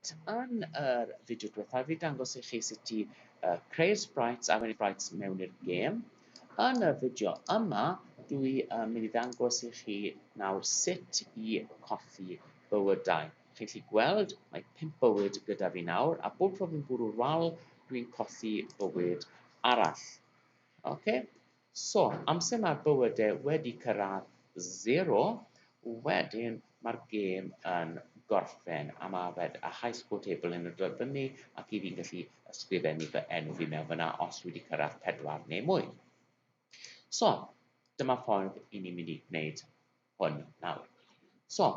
Reit, yn yr fideo diwethaf fi dangos i chi sut i uh, creu'r sprites a mynd sprites mewn i'r gêm. Yn y fideo yma, dwi uh, mynd i ddangos i chi nawr sut i coffi bywydau. Chi'n gallu gweld, mae pimp bywyd gyda fi nawr, a bob tro fi'n bwrw'r wal, dwi'n coffi bywyd arall. Oce? Okay? So, amser mae'r bywyde wedi cyrraedd zero, wedyn mae'r gêm yn gorffen, a mae fe, a high score table yn y dod fyny, ac i fi'n gallu ysgrifennu fy enw fi mewn fyna os dwi wedi cyrraedd pedwar neu mwy. So, dyma ffordd i ni'n mynd i gwneud hwn nawr. So,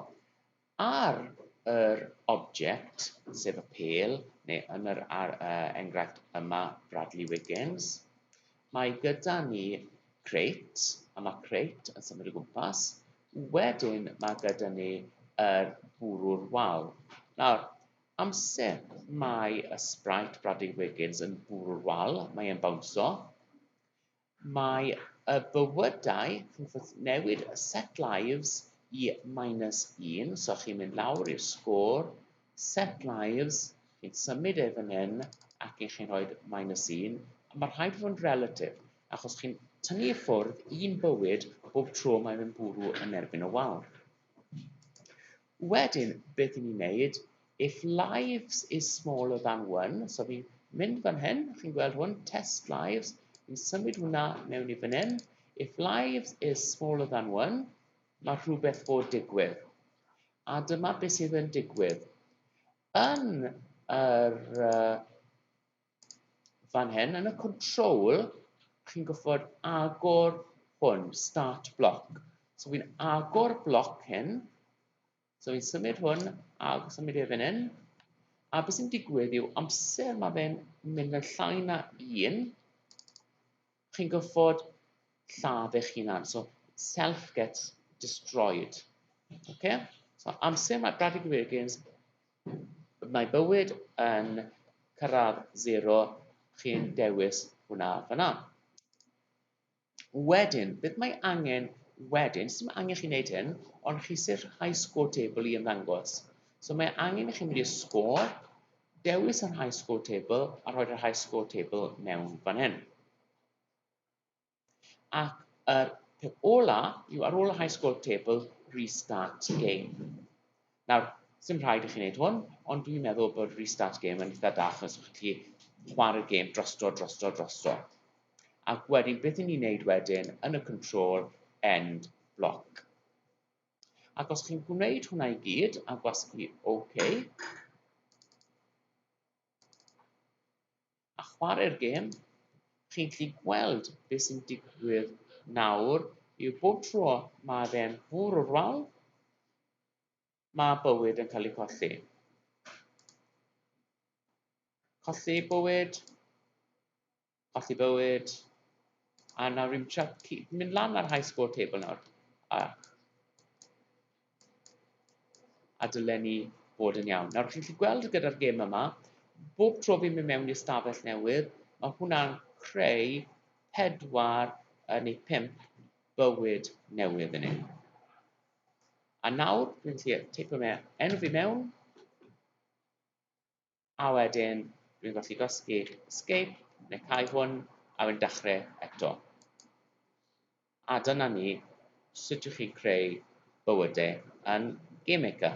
Ar yr object, sef y pêl, neu yn yr enghraifft yma, Bradley Wiggins, mae gyda ni crate, a mae crate yn symud o gwmpas. Wedyn mae gyda ni yr bwrw'r wal. Nawr, amser mae y sprite Bradley Wiggins yn bwrw'r wal, mae e'n bawnsio, Mae y bywydau, newid y set lives i minus un, so chi'n mynd lawr i'r sgôr, set lives, chi'n symud e fan hyn, ac i chi'n rhoi minus un, a mae rhaid fod yn relatif, achos chi'n tynnu i ffwrdd un bywyd bob tro mae'n mynd bwrw yn erbyn y wal. Wedyn, beth i ni'n wneud, if lives is smaller than one, so fi'n mynd fan hyn, chi'n gweld hwn, test lives, fi'n symud hwnna mewn i fan hyn, if lives is smaller than one, mae rhywbeth bod digwydd. A dyma beth sydd yn digwydd. Yn yr uh, fan hyn yn y control chi'n gwybod agor hwn start block so fi'n agor block hyn so fi'n symud hwn a symud e fan hyn a beth sy'n digwydd yw amser mae fe'n mynd yn llai na un chi'n gorfod lladd eich hunan. So, self gets destroyed. Okay? So, amser mae Bradley Wiggins, mae bywyd yn cyrraedd zero, chi'n dewis hwnna fyna. Wedyn, beth mae angen wedyn, sy'n angen chi wneud hyn, ond chi sy'n rhai sgôr tebl i ymddangos. So mae angen i chi mynd i'r sgôr, Dewis yr High Score Table a rhoi'r High Score Table mewn fan hyn. Ac yr peth ola yw ar ôl y High Score Table, Restart Game. Nawr, sy'n rhaid i chi wneud hwn, ond dwi'n meddwl bod Restart Game yn eitha da, achos chi'n gallu chwarae'r gêm drosto, drosto, drosto. Ac wedyn, beth ni'n ei wneud wedyn yn y control end block. Ac os chi'n gwneud hwnna i gyd a gwasgu OK, a chwarae'r gêm, chi'n gallu gweld beth sy'n digwydd nawr yw bob tro mae fe'n bwrw'r wal, mae bywyd yn cael ei colli. Colli bywyd, colli bywyd, a nawr rwy'n trio mynd lan ar high score table nawr, a, a dylen ni bod yn iawn. Nawr, chi'n gallu gweld gyda'r gêm yma, bob tro fi'n mynd mewn i'r stafell newydd, mae hwnna'n creu pedwar neu pimp bywyd newydd yn ein. A nawr, dwi'n gallu teipio mewn, enw fi mewn, a wedyn dwi'n gallu gosgu escape neu cau hwn a wedyn dechrau eto. A dyna ni sut ydych chi'n creu bywydau yn Game Maker.